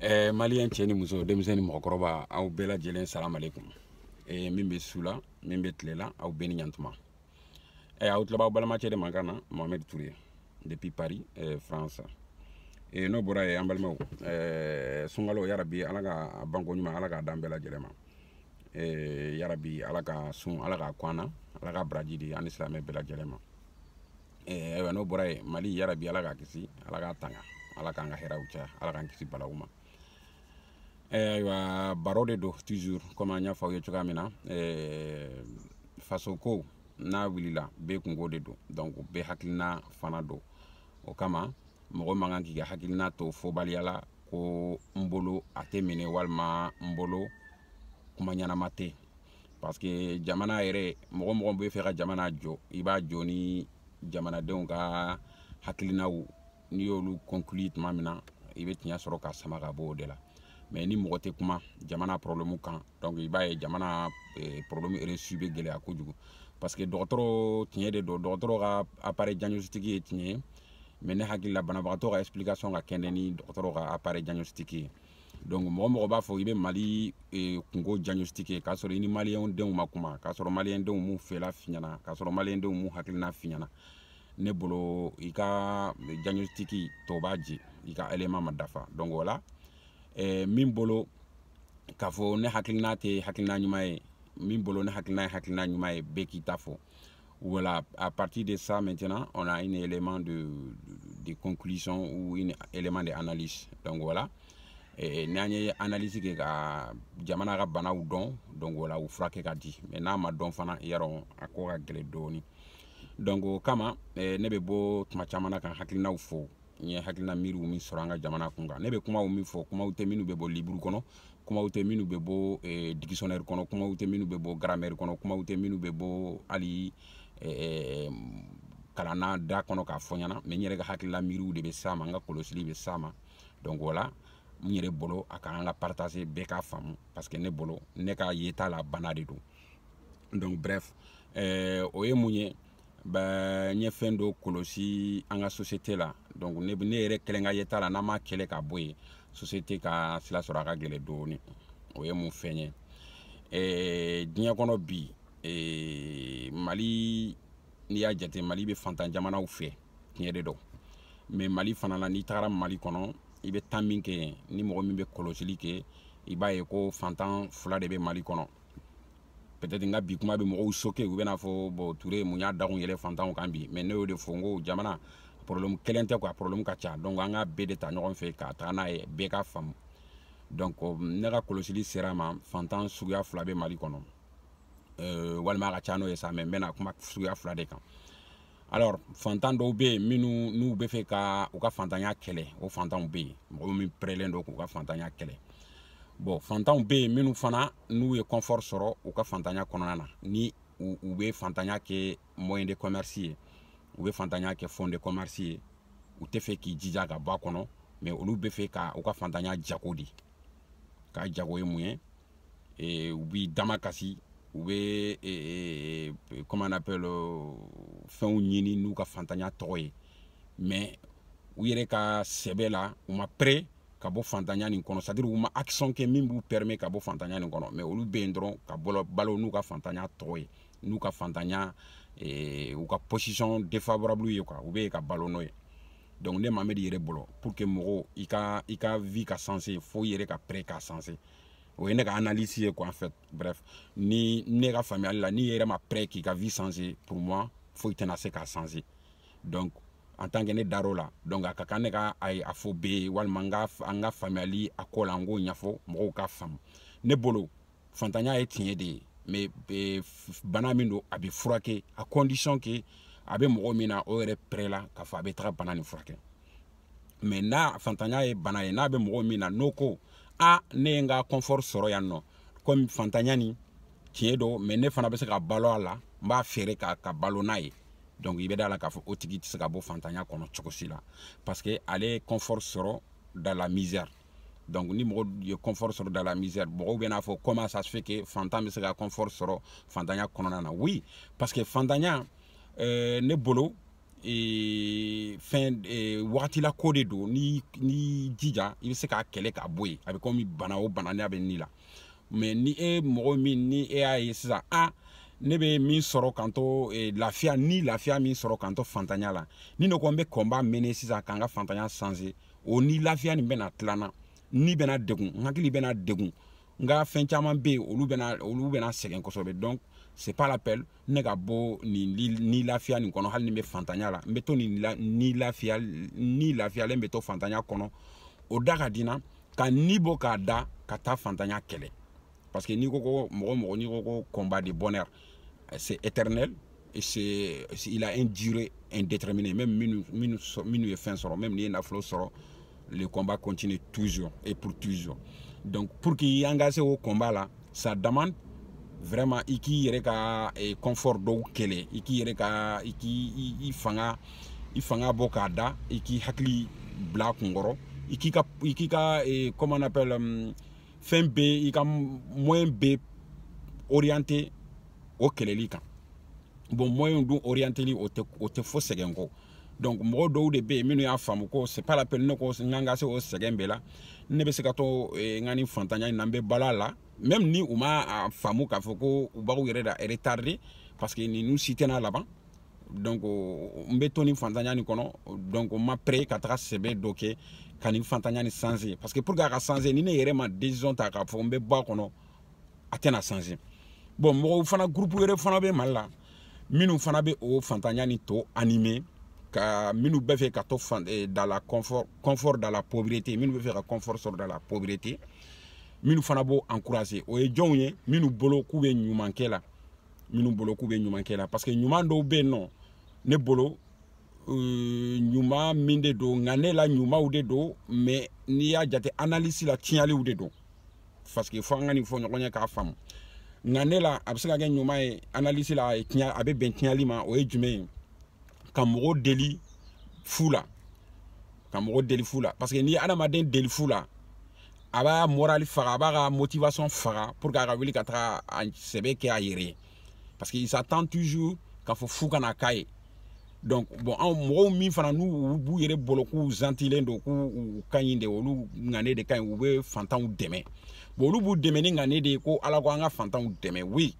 ɛɛ maliyɛn cɛ ni muso denmisɛn ni mɔgɔkɔrɔba aw bɛɛ lajɛlen salamu aleykum ɛɛ min bɛ su la min bɛ tile la aw bɛɛ ni ɲantuma ɛɛ aw tulo b'aw balimacɛ de mankan na mohamed ture depuis paris ɛɛ france ɛɛ n'o bɔra yen an balimaw ɛɛ sunkalo yarabi ala k'a banko ɲuman ala k'a d'an bɛɛ lajɛlen ma ɛɛ yarabi ala ka sun ala k'a kɔn an na ala ka baraji di an ni silamɛ bɛɛ lajɛlen ma eh, ayiwa n'o bɔra yen mali yarabi ala k'a kisi ala k'a tanga ala k'an ka hɛrɛw caya ala k'an kisi balaw ma eh, ayiwa baro de don toujours comme an y'a fɔ aw ye cogoya min na eh, faso ko n'a wulila bɛɛ kungo de don donc bɛɛ hakilina fana don o kama mɔgɔ man kan k'i ka hakilina to fɔbaliya la ko n bolo a tɛ minɛ walima n bolo kuma ɲɛnama tɛ parce que jamana yɛrɛ mɔgɔ o mɔgɔ b'a fɛ ka jamana jɔ i b'a jɔ ni jamanadenw ka hakilinaw n'i y'olu conclure tuma min na i bɛ tiɲɛ sɔrɔ k'a sama ka bɔ o de la mais ni mɔgɔ tɛ kuma jamana problème kan donc i b'a ye jamana eh, problème résoudre bɛ gɛlɛya kojugu parce que dɔgɔtɔrɔ tiɲɛ de don dɔgɔtɔrɔ ka appareil diagnostic ye tiɲɛ ye mais ne hakili la banabagatɔ ka explication ka kɛnɛ ni dɔgɔtɔrɔ ka appareil diagnostic ye donc mɔgɔ o mɔgɔ b'a fɔ i bɛ mali eh, kungo diagnostiquer k'a sɔrɔ i ni maliyɛn denw ma kuma k'a sɔrɔ maliyɛn denw m'u fela f'i ɲɛna k'a sɔrɔ maliyɛn denw m'u hakilina f'i ɲɛna ne bolo i ka diagnostic tɔ b'a jɛ i ka élément ma dafa donc voilà eh, min bolo k'a fɔ ne hakilina tɛ hakilina ɲuman ye min bolo ne hakilina ye hakilina ɲuman ye bɛɛ k'i ta fɔ Voilà, à partir de ça maintenant, on a un élément de, de, conclusion ou un élément d'analyse. Donc voilà. Et n'an ye analyse kɛ ka jamana ka banaw dɔn donc voilà u furakɛ ka di mais n'a ma dɔn fana y'a dɔn a ko ka gɛlɛn dɔɔni donc o kama eh, ne bɛ bɔ tuma caman na ka hakilinaw fɔ n ye hakilina miiriw min sɔrɔ an ka jamana kun kan ne bɛ kumaw min fɔ kumaw tɛ minnu bɛ bɔ liburu kɔnɔ kumaw tɛ minnu bɛ bɔ eh, dikisɔnɛri kɔnɔ kumaw tɛ minnu bɛ bɔ garamɛri kɔnɔ kumaw tɛ minnu bɛ bɔ hali eh, kalanna da kɔnɔ k'a fɔ n ɲɛna mais n yɛrɛ ka hakilila miiriw de bɛ s'a ma n ka kɔlɔsili bɛ s'a ma donc voilà n yɛrɛ bolo a ka kan n k'a partager bɛɛ k'a faamu parce que ne bolo ne ka yeta la bana de don donc bref eh, o ye mun ye bon n ye fɛn dɔ kɔlɔsi an ka sosiyete la donc ne ne yɛrɛ kɛlen ka yeta la n'an m'a kɛlɛ ka bɔ yen sosiyete ka sira sɔrɔ a ka gɛlɛn dɔɔni o ye mun fɛn ye ɛɛ diɲɛ kɔnɔ bi ɛɛ mali n'i y'a jate mali bɛ fantan jamanaw fɛ tiɲɛ de don mais mali fana la n'i tagara mali kɔnɔ i bɛ taama kɛ yen ni mɔgɔ min bɛ kɔlɔsili kɛ i b'a ye ko fantan fila de bɛ mali kɔnɔ peut-être n ka bi kuma bɛ mɔgɔw choquer u bɛna fɔ bon ture mun y'a dakun yɛlɛ fantanw kan bi mais ne y'o de fɔ n ko jamana problème kelen tɛ quoi problème ka ca donc an ka bɛɛ de ta ɲɔgɔn fɛ ka taga n'a ye bɛɛ ka faamu donc ne ka kɔlɔsili sera ma fantan suguya fila bɛ mali kɔnɔ euh, walima a ka ca n'o ye sa mais n bɛna kuma suguya fila de kan alors fantan dɔw bɛ yen minnu n'u bɛ fɛ ka u ka fantanya kɛlɛ o fantanw bɛ yen mɔgɔ min pɛrɛlen don k'u ka fantanya kɛlɛ bon fantanw bɛ yen minnu fana n'u ye confort sɔrɔ u ka fantanya kɔnɔna na ni u bɛ fantanya kɛ moyen de commerce ye u bɛ fantanya kɛ fond de commerce ye u tɛ fɛ k'i jija ka bɔ a kɔnɔ mais olu bɛ fɛ ka u ka fantanya jago de kɛ jago ye mun ye ee u b'i damakasi, u bɛ, ee, ee, comment on appelle, euh, fɛnw ɲini n'u ka fantanya tɔgɔ ye. Mais, u yɛrɛ ka sɛbɛ la, u ma prêt ka bɔ fantanya nin kɔnɔ, c'est-à-dire, u ma action kɛ min b'u permet ka bɔ fantanya nin kɔnɔ. Mais, olu bɛ dɔrɔn ka balo, balo n'u ka fantanya tɔgɔ ye. N'u ka fantanya, ee, u ka position défavorable, u ka, u bɛ ka balo n'o ye. donc ne mamɛd yɛrɛ bolo pour que mɔgɔ i ka i ka vie ka changer fo i yɛrɛ ka prêt ka changer o ye ne ka analyse ye quoi en fait bref ni ne ka faamuyali la n'i yɛrɛ ma prêt k'i ka vie changer pour moi foyi tɛna se k'a changer donc en tant que ne dar'o la donc a ka kan ne ka a ye a fɔ bɛɛ ye walima n ka an ka faamuyali a ko la n k'o ɲɛfɔ mɔgɔw k'a faamu ne bolo fantanya ye tiɲɛ de ye mais eh, bana min don a bɛ furakɛ à condition que a bɛ mɔgɔ min na o yɛrɛ prêt la k'a fɔ a bɛ taga bana nin furakɛ mais ni fantanya ye bana ye n'a bɛ mɔgɔ min na n'o ko a ne ye n ka confort sɔrɔ yan nɔ komi fantanya nin tiɲɛ don mais ne fana bɛ se ka balo a la n b'a feere ka ka balo n'a ye donc i bɛ da la k'a fɔ o tigi tɛ se ka bɔ fantanya kɔnɔ cogo si la parce que ale ye confort sɔrɔ dans la misère donc ni mɔgɔ ye confort sɔrɔ dans la misère mɔgɔw bɛn'a fɔ comment ça se fait que fantan bɛ se ka confort sɔrɔ fantanya kɔnɔna na oui parce que fantanya euh, ne bolo ee, fɛn ee, wagatila ko de don n'i y'i jija i bɛ se k'a kɛlɛ k'a bɔ yen a bɛ komi bana o bana n'a bɛ ni la mais ni e mɔgɔ min ni e y'a ye sisan a ne bɛ min sɔrɔ ka n to e, lafiya ni lafiya min sɔrɔ ka n to fantanya la ni ne ko n bɛ combat mener sisan ka n ka fantanya changer o ni lafiya nin bɛna tila n na n ni bɛna degun n hakili bɛna degun n ka fɛn caman bɛ yen olu bɛna olu bɛna sɛgɛn kosɛbɛ donc c'est pas la peine ne ka bɔ nin ni lafiya nin kɔnɔ hali ni n bɛ fantanya la n bɛ to nin la ni lafiya ni lafiyalen bɛ to fantanya kɔnɔ o da ka di n na ka ni bɔ k'a da ka taa fantanya kɛlɛ parce que n'i ko ko mɔgɔ mɔgɔ n'i ko ko combat de bonheur c'est éternel et c'est il a une durée indéterminée même minnu minnu minnu ye fɛn sɔrɔ même n'i ye nafolo sɔrɔ le combat continue toujours et pour toujours donc pour k'i engager o combat la ça demande vraiment i k'i yɛrɛ ka eh, confort dɔw kɛlɛ i k'i yɛrɛ ka i k'i i fanga i fanga bɔ k'a da i k'i hakili bila kun kɔrɔ i k'i ka i k'i ka eh, comment on appelle um, fɛn bɛɛ i ka moyen bɛɛ orienter o kɛlɛli kan bon moyen dun orienteli o tɛ o tɛ fo sɛgɛn kɔ donc mɔgɔ dɔw de bɛ yen minnu y'a faamu ko c'est pas la peine ne ko n ka se o sɛgɛn bɛɛ la ne bɛ se ka to eh, n ka nin fantanya in na n bɛ balo là même ni u ma a faamu k'a fɔ ko u bɛ k'u yɛrɛ de retarder parce que ninnu si tɛna laban donc n bɛ to nin fantanya nin kɔnɔ donc n ma prêt ka taga sɛbɛ dɔ kɛ ka nin fantanya nin changer parce que pour que a ka changer ni ne yɛrɛ ma décision ta k'a fɔ n bɛ bɔ a kɔnɔ a tɛna changer bon mɔgɔw fana gurupu wɛrɛ fana bɛ mali la minnu fana bɛ o fantanya nin tɔ animer ka minnu bɛ fɛ ka to fan eh, dans le confort confort dans la pauvreté minnu bɛ fɛ ka confort sɔrɔ dans la pauvreté minnu fana b'o encourager o ye jɔnw ye minnu bolo k'u bɛ ɲuman kɛ la minnu bolo k'u bɛ ɲuman kɛ la parce que ɲuman dɔw bɛ yen nɔ ne bolo euh, ɲuman min de don ŋaniya la ɲumanw de don mais n'i y'a jate analyse la tiɲɛliw de don parce que fo an ka nin fɔ ɲɔgɔn ye k'a faamu ŋaniya la a bɛ se ka kɛ ɲuman ye analyse la a ye tiɲɛ a bɛ bɛn tiɲɛli ma o ye jumɛn ye ka mɔgɔw deli fu la ka mɔgɔw deli fu la parce que n'i ye adamaden deli fu la a b'a moral faga a b'a ka motivation faga pour que a ka wuli ka taga a sɛbɛ kɛ a yɛrɛ ye parce que ils attendent toujours k'a fɔ f'u ka na k'a ye donc bon anw mɔgɔw min fana n'u b'u yɛrɛ bolo k'u zantilen don k'u ka ɲi de olu ŋaniya de ka ɲi u bɛ fantanw dɛmɛ bon olu b'u dɛmɛ ni ŋaniya de ye ko ala ko an ka fantanw dɛmɛ oui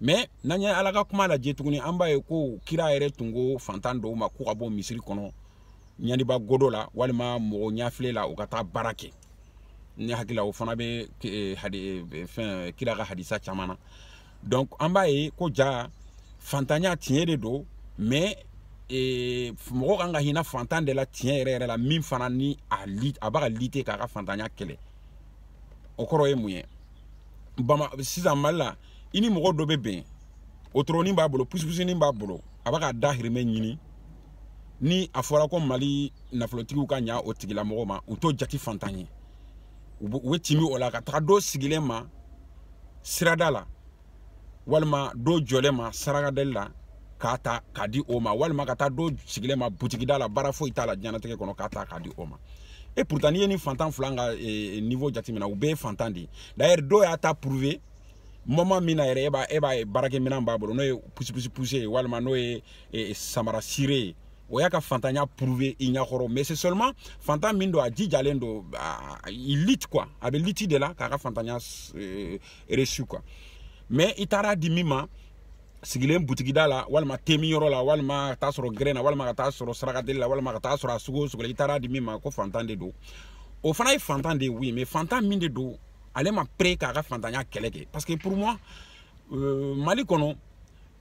mais n'an ye ala ka kuma lajɛ tuguni an b'a ye ko kira yɛrɛ tun ko fantan dɔw ma k'u ka bɔ misiri kɔnɔ ɲaniba godo la walima mɔgɔ ɲɛfilɛ la u ka taa baara kɛ ne hakili la o fana bɛ eh, eh, fɛn kira ka hadisa caman na donc an b'a ye ko jaa fantanya tiɲɛ de don mais eh, mɔgɔ kan ka hinɛ fantan de la tiɲɛ yɛrɛ yɛrɛ la min fana ni a li a bɛ ka lutter k'a ka fantanya kɛlɛ o kɔrɔ ye mun ye bama sisan mali la i ni mɔgɔ dɔ bɛ bɛn wotoronin b'a bolo pusipusinin b'a bolo a b'a ka dahirimɛ ɲini ni a fɔra ko mali nafolotigiw ka ɲa o tigilamɔgɔ ma u t'o jati fantan ye u bɛ tɛmɛ o la ka taga dɔ sigilen ma sirada la walima dɔ jɔlen ma sarakadeli la k'a ta k'a di o ma walima ka taa dɔ sigilen ma butigida la baara foyi t'a la diɲɛnatigɛ kɔnɔ k'a ta k'a di o ma et pourtant n'i ye nin fantan fila ka eh, eh, niveau jateminɛ u bɛɛ ye fantan de ye d'ailleurs dɔ y'a ta prouver moment min na yɛrɛ e b'a e b'a ye baarakɛminɛn b'a bolo n'o ye pusipusi pousser ye walima n'o ye eh, samara cirer ye o y'a ka fantanya prouve i ɲakɔrɔ mais c'est seulement fantan min don a jijalen don il lutte quoi a bɛ lutte de la k'a ka fantanya euh, reçu quoi mais i taara di min ma sigilen butigida la walima temi yɔrɔ la walima ka taa sɔrɔ gɛrɛn na walima ka taa sɔrɔ sarakadeli la walima ka taa sɔrɔ a sugu o sugu la i taara di min ma ko fantan de don o fana ye fantan de ye oui mais fantan min de don ale ma pere k'a ka fantanya kɛlɛ kɛ parce que pour moi euh, mali kɔnɔ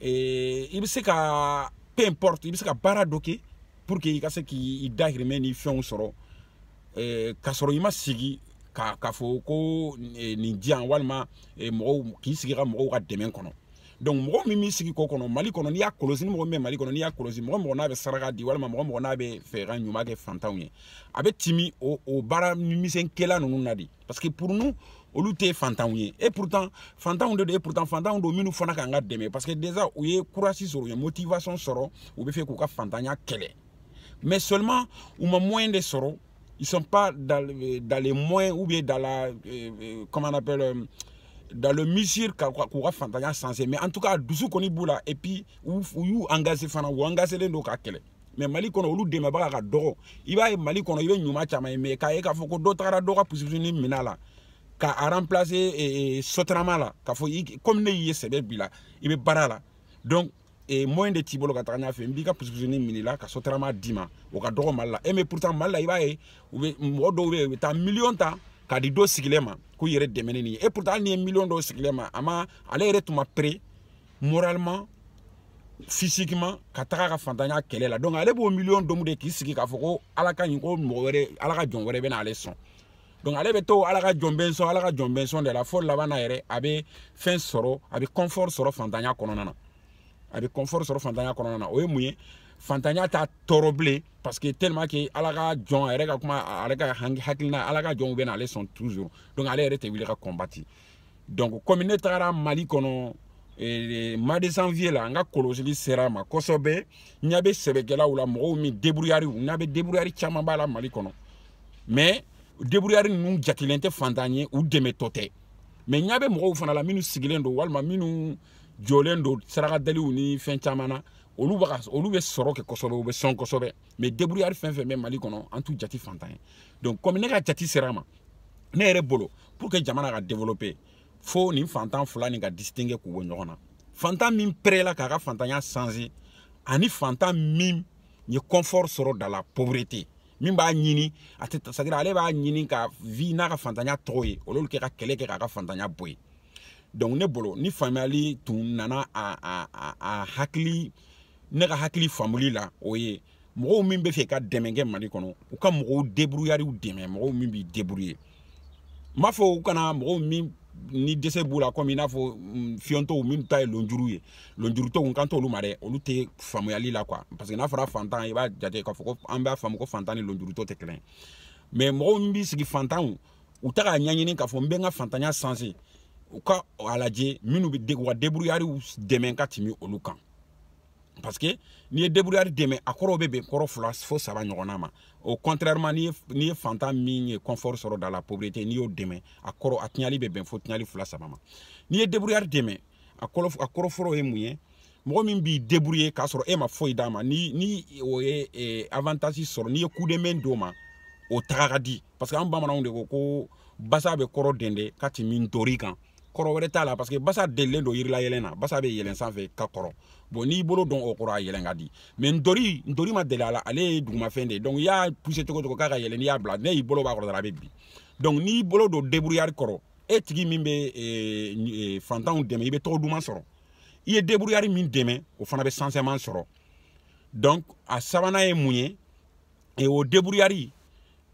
eh, i bɛ se ka peu importe i bɛ se ka baara dɔ kɛ pour que i ka se k'i dahirimɛ ni fɛnw sɔrɔ eh, k'a sɔrɔ i ma sigi k'a fɔ ko eh, nin di yan walima eh, mɔgɔw k'i sigi ka mɔgɔw ka dɛmɛ kɔnɔ donc mɔgɔ min b'i sigi k'o kɔnɔ mali kɔnɔ n'i y'a kɔlɔsi ni mɔgɔ min bɛ mali kɔnɔ n'i y'a kɔlɔsi mɔgɔ mɔgɔ n'a bɛ saraka di walima mɔgɔ mɔgɔ n'a bɛ fɛ ka ɲuman kɛ fantanw ye a bɛ temi o o baara misɛn kɛla ninnu na de parce que pour nous olu tɛ fantanw ye et pourtant fantanw de don et pourtant fantanw don minnu fana ka kan ka dɛmɛ parce que déjà u ye kurasi sɔrɔ u ye motivation sɔrɔ u bɛ fɛ k'u ka fantanya kɛlɛ mais seulement u ma moyen de sɔrɔ ils sont pas dans, euh, dans les moyens ou bien dans la euh, euh comment on appelle euh, dans le mesure k'u ka fantanya changer mais en tout cas dusu kɔni b'u la et puis u y'u engagé fana u engagelen don k'a kɛlɛ mais mali kɔnɔ olu dɛmɛbaga ka dɔgɔ i b'a ye mali kɔnɔ i bɛ ɲuman caman ye mais k'a ye k'a fɔ ko dɔ tagara dɔ ka pusupusuni minɛ a la ka a remplacer eh, eh, sotarama la k'a fɔ komi ne y'i ye sɛbɛ b'i la i bɛ baara la donc eh, moyen de t'i bolo ka taga ɲɛfɛ n b'i ka pusupusuni minɛ i la ka sotarama d'i ma o ka dɔgɔ mali la eh, mais pourtant mali la i b'a ye u bɛ mɔgɔ dɔw bɛ yen u bɛ taa miliyɔn ta k'a di dɔ sigilen ma k'u yɛrɛ dɛmɛ ni nin ye et pourtant hali n'i ye miliyɔn d'o sigilen ma a ma ale yɛrɛ tun ma pere moralement physiquement ka taga a ka fantanya kɛlɛ la donc ale b'o miliyɔn domu de k'i sigi k'a fɔ ko ala ka ɲi ko mɔgɔ wɛrɛ ala ka jɔn wɛrɛ bɛna ale sɔn donc ale bɛ to ala ka jɔn bɛ sɔn ala ka jɔn bɛ sɔn de la fo laban na yɛrɛ a bɛ fɛn sɔrɔ a bɛ confort sɔrɔ fantanya kɔnɔna na a bɛ confort sɔrɔ fantanya kɔnɔna na o ye mun ye fantanya t'a tɔɔrɔ bilen parce que tellement que ala ka jɔn a yɛrɛ ka kuma ale ka hakilina ala ka jɔnw bɛ na ale sɔn toujours donc ale yɛrɛ tɛ wuli ka combattre donc komi ne tagara mali kɔnɔ eh, mois de janvier la n ka kɔlɔsili sera a ma kosɛbɛ n ɲa bɛ sɛbɛkɛlaw la mɔgɔw min deburuyari n ɲa bɛ deburuyari camanba la mali kɔnɔ mais deburuyari ninnu jatilen tɛ fantan ye u dɛmɛtɔ tɛ mais n ɲa bɛ mɔgɔw fana la minnu sigilen don walima minnu jɔlen don sarakadaliw ni fɛn caman na olu bɛ olu bɛ sɔrɔ kɛ kosɛbɛ u bɛ sɔn kosɛbɛ mais deburuyari fɛn fɛn bɛ mali kɔnɔ an t'u jati fantan ye donc komi ne ka jati sera a ma ne yɛrɛ bolo pour que jamana ka développer fo nin fantan fila nin ka distinguer k'u bɔ ɲɔgɔn na fantan min perela k'a ka fantanya changer ani fantan min ye confort sɔrɔ dans la pauvreté min b'a ɲini c'est-à-dire ale b'a ɲini ka vivre n'a ka fantanya tɔgɔ ye au lieu que ka kɛlɛ kɛ k'a ka fantanya bɔ yen donc ne bolo ni faamuyali tun nana a a a a hakili ne ka hakili faamuli la o ye mɔgɔw min b'a fɛ ka dɛmɛ kɛ mali kɔnɔ u ka mɔgɔw débrouillardw dɛmɛ mɔgɔw min b'i débrouiller n b'a fɔ u kana mɔgɔw min ni dɛsɛ b'u la komi i n'a fɔ mm, fiyentɔw minnu ta ye lonjuru ye lonjurutɔw n kan t'olu ma dɛ olu tɛ faamuyali la quoi parce que n'a fɔra fantan i b'a jate k'a fɔ ko an b'a faamu ko fantan ni lonjurutɔ tɛ kelen mais mɔgɔw min b'i sigi fantanw u tɛ k'a ɲɛɲini k'a fɔ n bɛ n ka fantanya changer u ka a lajɛ minnu bɛ u ka débrouillardw dɛmɛ ka tɛmɛ olu kan parce que n'i ye débrouillard dɛmɛ a kɔrɔw bɛ bɛn kɔrɔ fila fo saba ɲɔgɔnna ma o contrairement n'i ye n'i ye fantan min ye confort sɔrɔ dans la pauvreté n'i y'o dɛmɛ a kɔrɔ a tiɲɛli bɛ bɛn fo tiɲɛli fila saba ma n'i ye débrouillard dɛmɛ a kɔrɔ a kɔrɔ fɔlɔ ye mun ye mɔgɔ min b'i débrouiller k'a sɔrɔ e ma foyi d'a ma ni ni o ye eh, avantage sɔrɔ n'i ye coup de main d'o ma o taga ka di parce que an bamananw de ko ko basa bɛ kɔrɔ dɛndɛ ka tɛmɛ ntori kan kɔrɔ wɛrɛ t'a la parce que basa delilen don yirila yɛlɛn na basa bɛ yɛlɛn sanfɛ ka kɔrɔ bon n'i bolo don o kɔrɔ a yɛlɛn ka di mais ntori ntori ma deli a la ale ye dugumafɛn de ye donc i y'a pousser cogo cogo k'a ka yɛlɛn n'i y'a bila n'i y'i bolo b'a kɔrɔ dɔrɔn a bɛ bin donc n'i bolo don débrouillard kɔrɔ e tigi min bɛ eh, eh, fantanw dɛmɛ i bɛ tɔgɔ duman sɔrɔ i ye débrouillard min dɛmɛ o fana bɛ changement sɔrɔ donc a sabanan ye mun ye e o débrouillard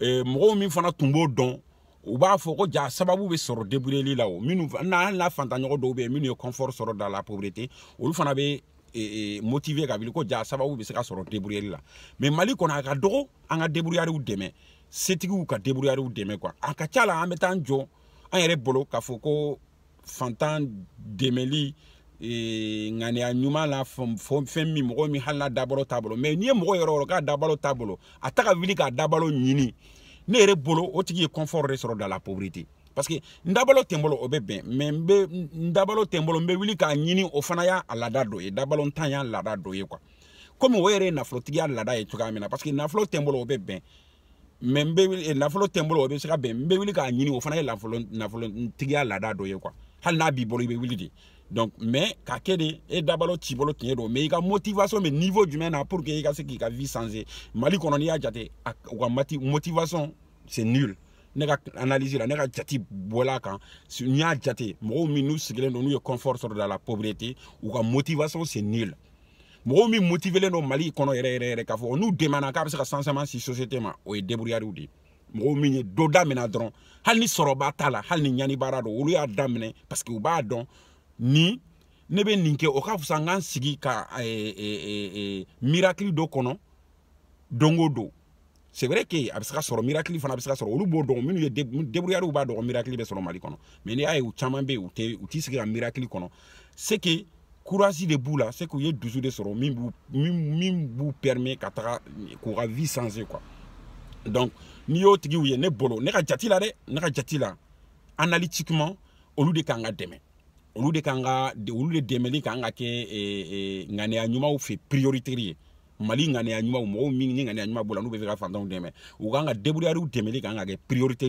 e, mɔgɔw min fana tun b'o dɔn u b'a fɔ ko ja sababu bɛ sɔrɔ deburuyali la o minnu na hali n'a fantanɲɔgɔn dɔw bɛ yen minnu ye confort sɔrɔ dans la pauvreté olu fana bɛ e, e, motiver ka wuli ko ja sababu bɛ se ka sɔrɔ deburuyali la mais mali kɔnɔ a ka dɔgɔ an ka débrouillardw dɛmɛ setigiw ka débrouillardw dɛmɛ quoi a ka ca la an bɛ taa an jɔ an yɛrɛ bolo k'a fɔ ko fantan dɛmɛli ee, ŋaniya ɲuman la fɛn min mɔgɔ min hali n'a dabalo t'a bolo mais n'i ye mɔgɔ yɔrɔ yɔrɔ k'a dabalo t'a bolo a tɛ ka wuli k'a dabalo ɲini ne yɛrɛ bolo o tigi ye confort de sɔrɔ dans la pauvreté parce que n dabalo tɛ n bolo o bɛ bɛn mais n bɛ n dabalo tɛ n bolo n bɛ wuli k'a ɲini o fana y'a laada dɔ ye dabalontanya laada dɔ ye quoi komi o yɛrɛ ye nafolotigiya laada ye cogoya min na parce que nafolo tɛ n bolo o bɛ bɛn mais n bɛ wuli eh, nafolo tɛ n bolo o bɛ se ka bɛn n bɛ wuli k'a ɲini o fana ye nafolo nafolotigiya laada dɔ ye quoi hali n'a b'i bolo i bɛ wuli de donc mais ka kɛ de e dabalo t'i bolo tiɲɛ don mais i ka motivation bɛ niveau jumɛn na pour que i ka se k'i ka vie changer mali kɔnɔ n'i y'a jate u ka mati motivation c'est nul ne ka analyse la ne ka jatebɔ la quand n y'a jate mɔgɔw min n'u sigilen don n'u ye confort sɔrɔ dans la pauvreté u ka motivation c'est nul mɔgɔw min motivelen don mali kɔnɔ yɛrɛ yɛrɛ yɛrɛ k'a fɔ n'u dɛmɛna k'a bɛ se ka changement se société ma o ye débrouillardw de ye mɔgɔw min ye dɔ daminɛ dɔrɔn hali ni sɔrɔba t'a la hali ni ɲanibaara don olu y'a daminɛ parce que u b'a dɔn ni ne bɛ nin kɛ o ka fisa n ka n sigi ka miracle dɔ kɔnɔ don o don c'est vrai que a bɛ se ka sɔrɔ miracle fana bɛ se ka sɔrɔ olu b'o dɔn minnu ye débrouillards b'a dɔn miracle bɛ sɔrɔ Mali kɔnɔ mais n'i y'a ye u caman bɛ yen u tɛ u t'i sigi ka miracle kɔnɔ c'est que courage de b'u la c'est que u ye dusu de sɔrɔ min b'u min b'u permet ka taga k'u ka vie changer quoi donc n'i y'o tigiw ye ne bolo ne ka jate la dɛ ne ka jate la analytiquement olu de kan ka dɛmɛ olu de kan ka olu de dɛmɛli kan ka kɛ ŋaniya ɲumanw fɛ prioritaire ye Mali ŋaniya ɲumanw mɔgɔw minnu ŋaniya ɲuman b'u la n'u bɛ fɛ ka fantanw dɛmɛ u kan ka débrouillardw dɛmɛli kan ka kɛ priorité